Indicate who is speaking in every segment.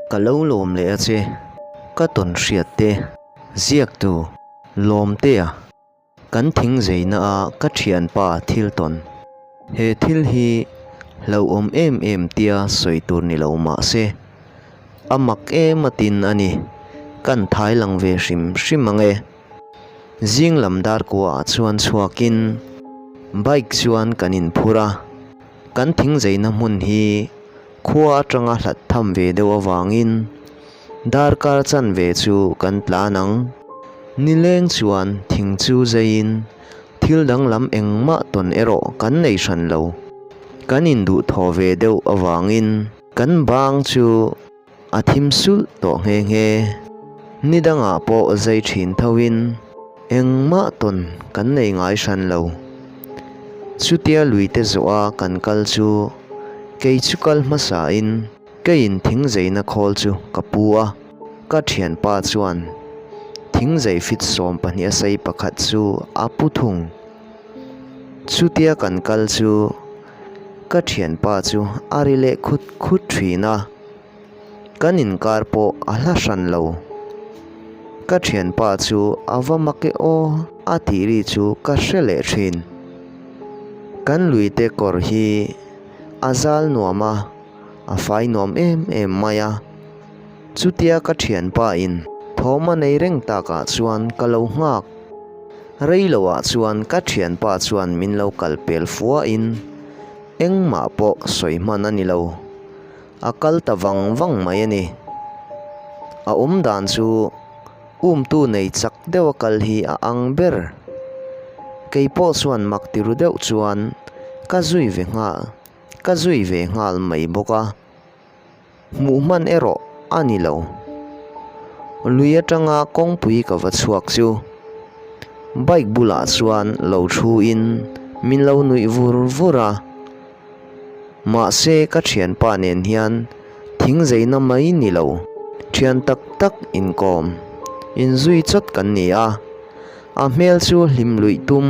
Speaker 1: Ka lo lawm leh a che, ka tawn hriat te, ziaktu, lawm te a, kan thing zeina a ka thianpa thil tawn. He thil hi hlauhawm em em tia sawi tur ni lo mahse, a mak em atin a ni, kan thailang ve hrim hrim ang e. Zing lam dar kuahah chuan chhuak in bike chuan kan in phur a, kan thing zeina hmun hi khua atanga hlat tham ve deuh avangin dar kar chan ve chu kan tlan ang. Nileng chuan thing chu zai in thil dang lam engmah tawn erawh kan nei hran lo, kan in duh thaw ve deuh avangin kan bang chu, a thim sulh tawh nghe nghe. Ni dangah pawh zei thin thoin engmah tawn kan nei ngai hran lo. Chutia luite zawha kan kal chu kei chu kal hmasain keiin thingzeina khawl chu ka pu a, ka thianpa chuan thingzei fit sawm pahnih a sei pakhat chu a pu thung. Chutia kan kal chu. Ka thianpa chu a ri leh khut khut thin a, kan inkar pawh a hla hran lo. Ka thianpa chu a va mak e aw a tih ri chu ka hre leh thin. Kan lui te kawr hi a zal nuam a, a fai nuam em em mai a. Chutia ka thianpa in thawma nei reng takah chuan ka lo nghak. Rei lo ah chuan ka thianpa chuan min lo kal pel fuah in engmah pawh sawi hman a ni lo. A kal ta vang vang mai a ni. A awm dan chu umtu nei chak deuh a kal hi a ang ber. Kei pawh chuan mak ti ru deuh chuan ka zui ve nghal ka zui ve nghal mai bawk a. Hmuh hman erawh a ni lo. Lui atanga kawngpui ka va chhuak chu bike bulah chuan lo thu in min lo nuih vur vur a. Mahse ka thianpa nen hian thing zeina mai ni lo. Thian tak tak inkawm in zui chawt kan ni a. A hmel chu hlim luih tum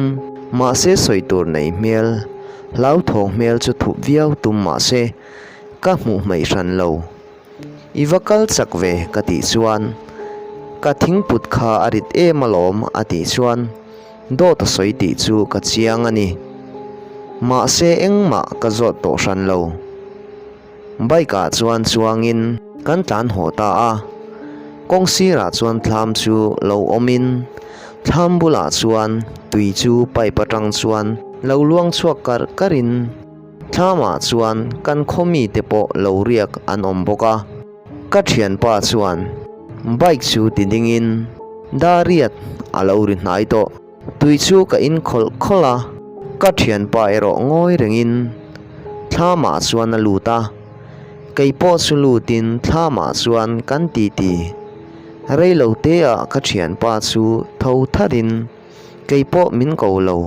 Speaker 1: mahse sawi tur nei hmel, hlauthawh hmel chu thup viau tum mahse, ka hmuh hmeih hran lo. I va kal chak ve ka tih chuan ka thingput kha a rit em alawm a tih chuan dawt a sawi tih chu ka chiang a ni. Mahse engmah ka zawt tawh hran lo. Bike ah chuan chuangin kan tlan haw ta a, kawng sirah chuan thlam chu lo awmin thlam bulah chuan tui chu pipe atang chuan lo luang chhuak karh karh in. Thlamah chuan kan khawmi te pawh lo riak an awm bawk a, ka thianpa chuan bike chu ti dingin Dariat a lo ri hnai tawh. Tui chu ka in khawlh khawlh a, ka thianpa erawh ngawi rengin Thlamah chuan a lut a, kei pawh chu lutin Thlamah chuan kan titi rei lo te ah ka thianpa chu tho tharin kei pawh min ko lo.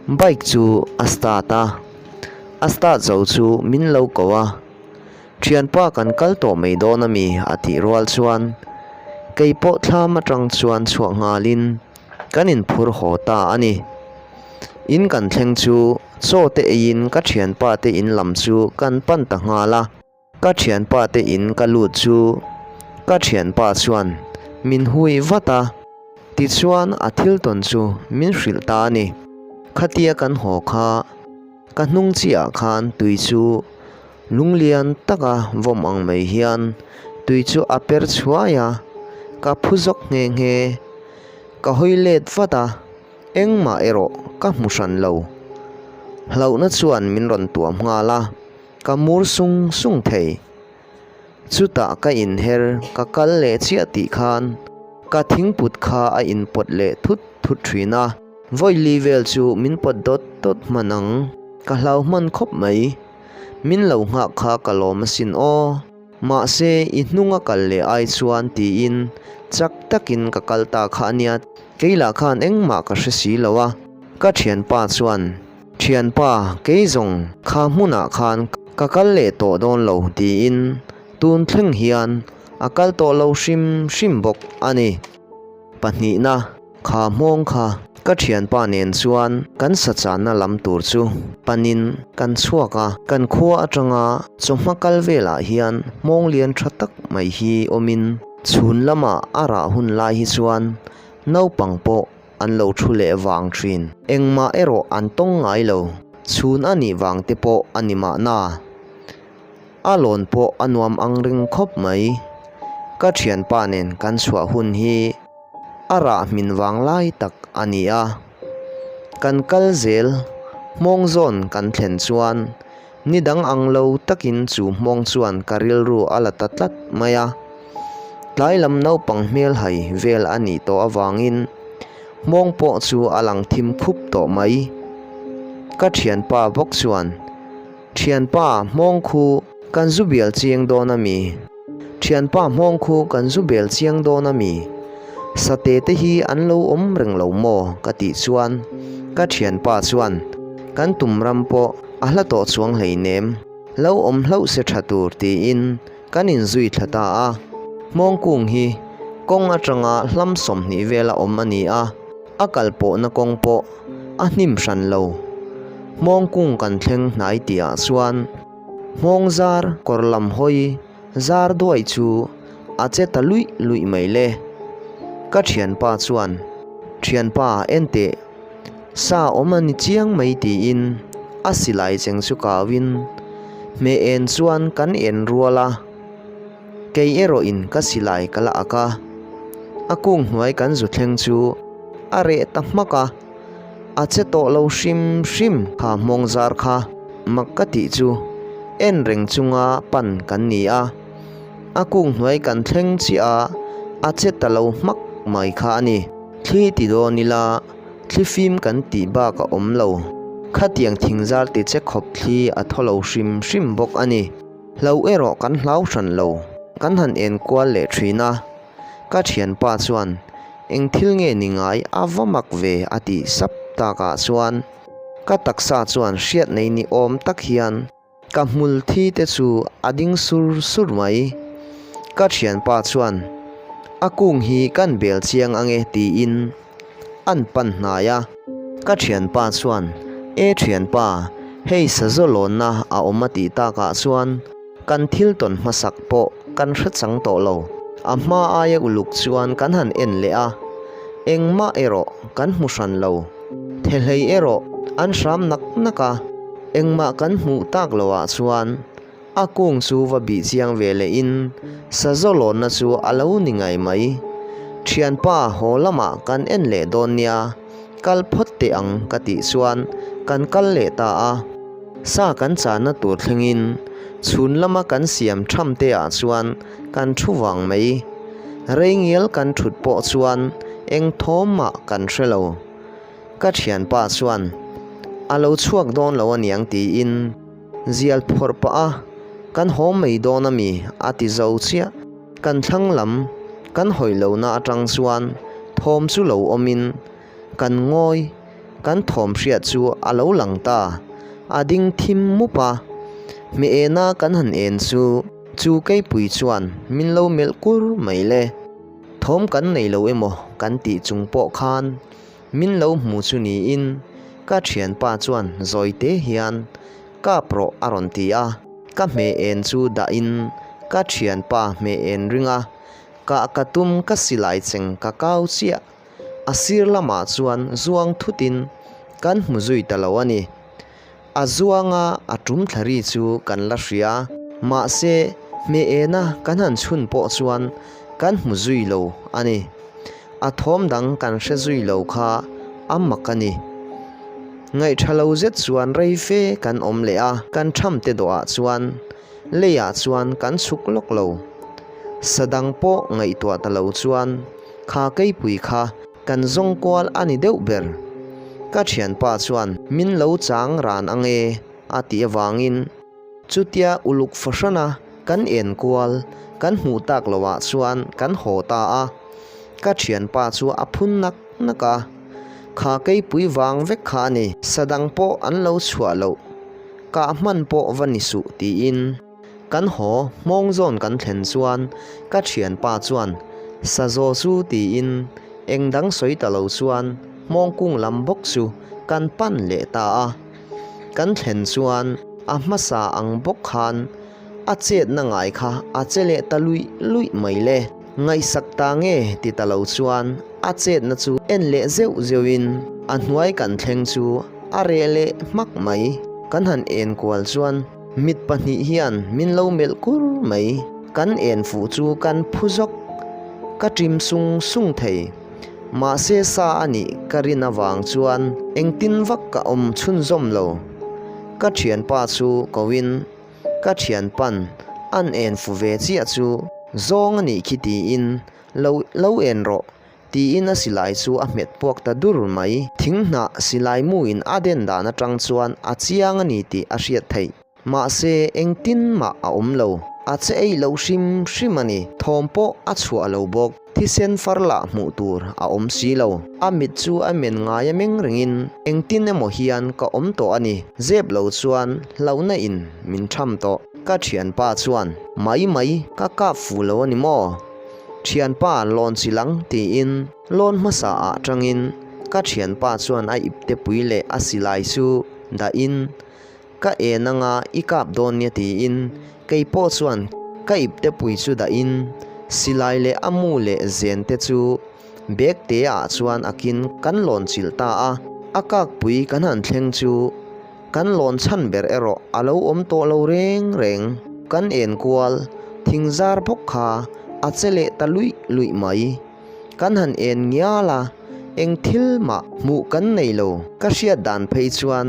Speaker 1: Bike chu a start a, a start zo chu min lo ko a, thianpa kan kal tawh mai dawn a mi a tih rual chuan kei pawh thlam atang chuan chhuak nghal in kan in phur haw ta a ni. In kan thleng chu chaw te ei in ka thianpa te in lam chu kan pan ta nghal a. Ka thianpa te in ka lut chu ka thianpa chuan min hui vat a. Tichuan a thil tawn chu min hrilh ta a ni. Khatia kan haw kha ka hnung chiah khan tui chu lung lian taka vawm ang mai hian tui chu a per chhuai a. Ka phu zawk nghe nghe. Ka hawi let vat a, engmah erawh ka hmu hran lo. Hlauhna chuan min rawn tuam nghal a. Ka mur sung sung thei. Chutah ka inher, ka kal leh chiah tih khan ka thingput kha a inpawt leh thut thut thin a. Vawili vel chu min pawt dawt dawt hman ang. Ka hlau hman khawp mai. Min lo nghak kha ka lawm asin aw. Mahse, i hnung a kal leh ai chuan tiin chak takin ka kal ta kha ania. Kei lah khan engmah ka hre si lo a, ka thianpa chuan Thianpa, kei zawng kha hmunah khan ka kal leh tawh dawn lo tiin tun thleng hian a kal tawh lo hrim hrim bawk a ni. Pahnihna, kha hmawng kha ka thianpa nen chuan kan sachanna lam tur chu panin kan chhuak a, kan khua atanga chawhma kal velah hian hmawng lian tha tak mai hi awmin chhun lama a rah hun lai hi chuan naupang pawh an lo thu leh vang thin. Engmah erawh an tawng ngai lo, chhun a nih vang te pawh a ni mahna, a lawn pawh a nuam angring khawp mai. Ka thianpa nen kan chhuah hun hi a rah hmin vang lai tak a ni a, kan kal zel hmawng zawn kan thlen chuan, Ni dang ang lo takin chu hmawng chuan ka rilru a la ta tlat mai a. Tlai lam naupang hmelhai vel a nih tawh avangin hmawng pawh chu a lang thim khup tawh mai. Ka thianpa bawk chuan, Thianpa, hmawng khu kan zu bial chiang dawn a mi. Thianpa hmawngkhu kan zu bel chiang dawn a mi? Sate te hi an lo awm reng lo maw? ka tih chuan ka thianpa chuan, Kan tum ram pawh a hla tawh chuang hleinem, lo awm hlauh se tha tur tiin kan inzui thla ta a. Hmawngkung hi kawng atanga hlam sawmhnih vela awm a ni a, a kalpawhna kawng pawh a hnim hran lo. Hmawngkung kan thleng hnai tihah chuan Nghawng zar kawr lam hawi zar duai chu a che ta luih luih mai le. Ka thianpa chuan, Thianpa enteh, sa awm a ni chiang mai tiin a silai cheng chu kau in hme en chuan kan en rual a. Kei erawh in ka si lai ka la ak a, a kung hnuai kan zu thleng chu a reh ta hmak a, a che tawh lo hrim hrim. Kha hmawng zar kha mak ka tih chu en reng chunga pan kan ni a, a kung hnuai kan thleng chiah a, a che ta lo hmak mai kha a ni. Thli ti dawn ila, thli fim kan tih bak a awm lo. Khatiang thing zar ti che khawp thli a thaw lo hrim hrim bawk a ni. Hlo erawh kan hlau hran lo, kan han en kual leh thin a. Ka thianpa chuan, Eng thil nge ni ngai a va mak ve a ti sap tak ah chuan ka taksa chuan hriat nei ni awm tak hian ka hmul thi te chu a ding sur sur mai. Ka thianpa chuan, A kung hi kan bel chiang ange tiin an pan hnai a. Ka thianpa chuan, E thianpa, hei sazaw lawnna a awm a tih takah chuan kan thil tawn hmasak pawh kan hrechang tawh lo. A hma aia uluk chuan kan han en leh a, engmah erawh kan hmu hran lo. Thehlei erawh an hram nak nak a, engmah kan hmuh tak lo ah chuan, A kung chu va bih chiang ve leh in sa zawlawnna chu a lo ni ngai mai. Thianpa haw lamah kan en leh dawn nia, kal phawt teh ang ka tih chuan kan kal leh ta a. Sa kan chahna tur thleng in chhun lama kan siam tham te ah chuan kan thu vang mai. Rei ngial kan thut pawh chuan eng thawm mah kan hre lo. Ka thianpa chuan, A lo chhuak dawn lo a niang tiin. Zial phawrh pah a, kan hawm mai dawn a mi, a ti zo chiah. Kan thlang lam kan hawi lohna atang chuan thawm chu lo awmin kan ngawi, kan thawm hriat chu a lo lang ta. A ding thim mup a, hme ena kan han en chu chu keipui chuan min lo melh kur mai le. Thawm kan nei lo emaw kan tih chung pawh khan Min lo hmu chu niin ka thianpa chuan zawite hian kap rawh a rawn ti a. Ka hme en chu dah in ka thianpa hme en ring a, kah ka tum ka silai cheng ka kau chiah. A sir lamah chuan zuang thutin kan hmu zui ta lo a ni. A zuanga a tum thlari chu kan la hria. Mahse, hme ena kan han chhun pawh chuan kan hmu zui lo a ni. A thawm dang kan hre zui lo kha a mak a ni. Ngaihṭha lo zet chuan rei fe kan awm leh a, kan ṭham te dawh ah chuan lei ah chuan kan chhuk lawk lo. Sadang pawh ngaihtuah ta lo chuan kha keipui kha. Kan zawng kual a ni deuh ber. Ka thianpa chuan, Min lo chang ran ange, a tih avangin. Chutia uluk fahrana kan en kual kan hmuh tak lo ah chuan kan haw ta a. Ka thianpa chu a phun nak nak a, Kha keipui vang vek kha a ni. Sadang pawh an lo chhuah loh, kah hman pawh va ni suh, tiin. Kan haw hmawng zawn kan thlen chuan ka thianpa chuan Sazaw chu tiin eng dang sawi ta lo chuan hmawng kung lam bawk chu kan pan leh ta a. Kan thlen chuan a hmasa ang bawk khan a chetna ngai kha a che leh ta luih luih mai le. Ngaihsak ta nge ti ta lo chuan a chetna chu en leh zeuh zeuh in a hnuai kan thleng chu a reh leh hmak mai. Kan han en kual chuan. Mit pahnih hian min lo melh kur mai. Kan en fuh chu kan phu zawk. Ka ṭim sung sung thei. Mahse sa a nih ka rin avang chuan engtin vak ka awm chhunzawm lo. Ka ṭhianpa chu koin, Ka ṭhianpan, an en fuh ve chiah chu zawng a nih khi tiin lo en rawh. Tiin a silai chu a hmet puak ta dur mai. Thing hnah silai muin a den dan atang chuan a chiang a ni tih a hriat theih. Mahse engtin mah a awm lo. A che ei lo hrim hrim a ni. Thawm pawh a chhuah lo bawk. Thisen far lah hmuh tur a awm si lo. A mit chu a men ngai a meng rengin engtin emaw hian ka awm tawh a ni. Zep lo chuan hlauhna in min tham tawh. Ka thianpa chuan, Mai mai, ka kap fu lo a ni maw? Thianpa lawn si lang, tiin lawn hmasa ah atangin ka thianpa chuan a iptepui leh a silai chu dahin ka en anga i kap dawn nia tiin keipawh chuan ka iptepui chu dahin silai leh a mu leh zen te chu bag te ah chuan akin kan lawn chilh ta a, a kakpui kan han thleng chu Kan lawn chhan ber erawh a lo awm tawh lo reng reng. Kan enkual thing zar bawk kha a che leh ta luih luih mai. Kan han en ngial a, eng thil mah hmuh kan nei lo. Ka hriat dan phei chuan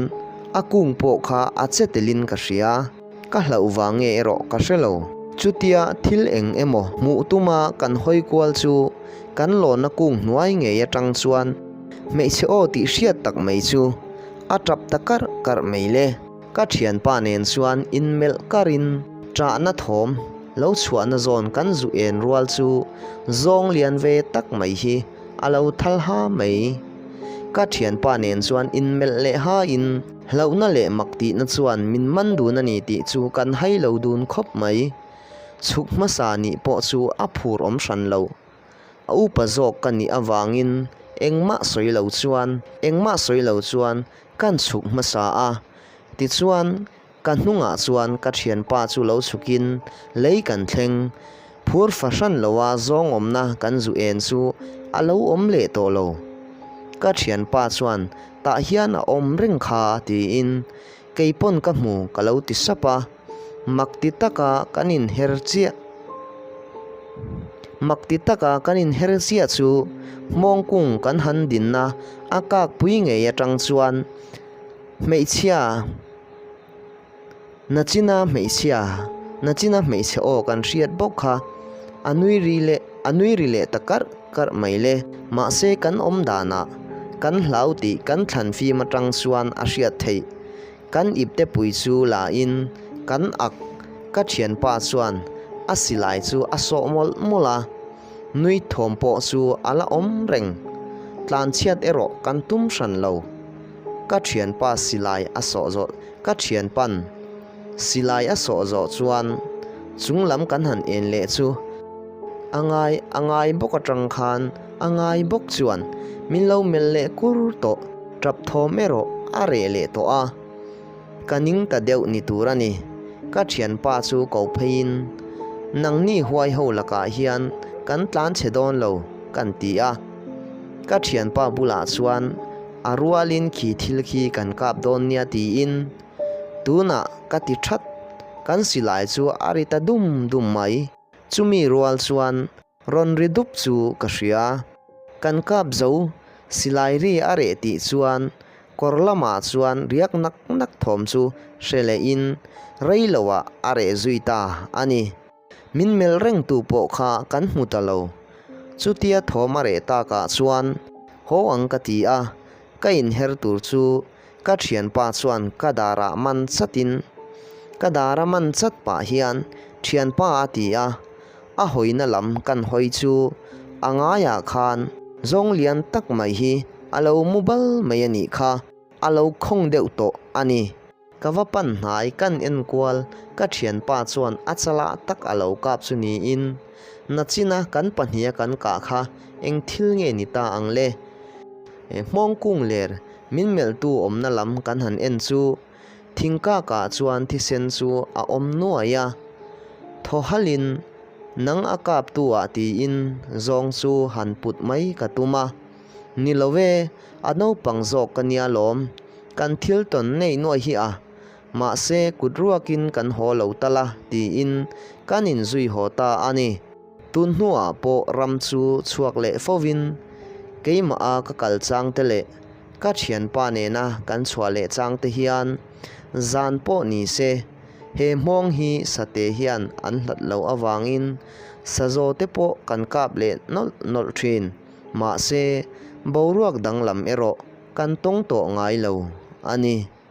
Speaker 1: a kung pawh kha a che telin ka hria. Ka hlauh vang nge erawh ka hre lo. Chutia thil eng emaw hmuh tuma kan hawi kual chu kan lawna kung hnuai ngei atang chuan hmeichhe aw tih hriat tak mai chu a tap ta karh karh mai le. Ka thianpa nen chuan in melh karh in chahna thawm lo chhuahna zawn kan zu en rual chu zawng lian ve tak mai hi a lo thalha mai. Ka thianpa nen chuan in melh leh ha in. Hlauhna leh mak tihna chuan min man dun a ni tih chu kan hai lo dun khawp mai. Chhuk hmasa nih pawh chu a phur awm hran lo. A upa zawk ka nih avangin engmah sawi lo chuan, engmah sawi lo chuan kan chhuk hmasa a. Tichuan, ka hnungah chuan ka thianpa chu lo chhukin lei kan thleng. Phur fahran loa zawngawmna kan zu en chu a lo awm leh tawh lo. Ka thianpa chuan tah hian a awm reng kha tiin kei pawn ka hmu ka lo ti sap a, mak ti taka kan inher chiah mak ti taka kan inher chiah chu hmawng kung kan han dinna a kak pui ngei atang chuan hmeichhia Nachina hmeichhia, Nachina hmeichhe aw kan hriat bawk kha, a nui ri le a nui ri leh ta karh karh mai le, mahse kan awm danah kan hlau tih kan thlan fim atang chuan a hriat theih. Kan ipte pui chu la in kan ak, ka thianpa chuan a silai chu a sawh mawlh mawlh a, nui thawm pawh chu a la awm reng, tlanchhiat erawh kan tum hran lo. Ka thianpa silai a sawh zawh. Ka thianpan silai a sawh zawh chuan chung lam kan han en leh chu. A ngai, a ngai bawk atang khan a ngai bawk chuan min lo melh leh kur tawh, tap thawm erawh a reh leh tawh a, ka ning ta deuh ni tur a ni. Ka thianpa chu ko pheiin, Nangni huai ho lakah hian kan tlan che dawn lo, kan ti a. Ka thianpa bulah chuan. A rualin khi thil khi kan kap dawn nia tiin tunah ka ti that, kan silai chu a ri ta dum dum mai. Chumi rual chuan rawn ri dup chu ka hria. Kan kap zo, silai ri a reh tih chuan kawr lamah chuan riak nak nak thawm chu hre lehin rei loah a reh zui ta a ni. Min melh reng tu pawh kha kan hmu ta lo. Chutia thawm a reh tak ah chuan haw ang ka ti a, ka inher tur chu ka thianpa chuan ka dar ah man chat in. Ka dar a man chat pah hian thianpa a ti a, a hawina lam kan hawi chu a ngai ah khan zawng lian tak mai hi a lo mu bal mai a nih kha a lo khawng deuh tawh a ni. Ka va pan hna i kan enkual. Ka thianpa chuan a chala tak a lo kap chu niin, Nachina kan pahnih a kan kah kha eng thil nge ni ta ang le? E, hmawng kung ler min melhtu awmna lam kan han en chu. Thingkakah chuan thisen chu a awm nuai a. Thawhalin nang a kaptu ah tiin zawng chu han put mai ka tum a. Ni lo e, a naupang zawk ka nia lawm. Kan thil tawn ngei nuai hi a, mahse kut ruakin kan haw lo tal a tiin kan in zui haw ta a ni. Tun hnuah pawh ram chu chhuak leh fovin keimah a ka kal chang te leh ka thianpa nena kan chhuah leh chang te hian zan pawh ni se he hmawng hi sate hian an hlat loh avangin sazaw te pawh kan kap leh nawlh nawlh thin. Mahse, boruak danglam erawh kan tawng tawh ngai lo a ni.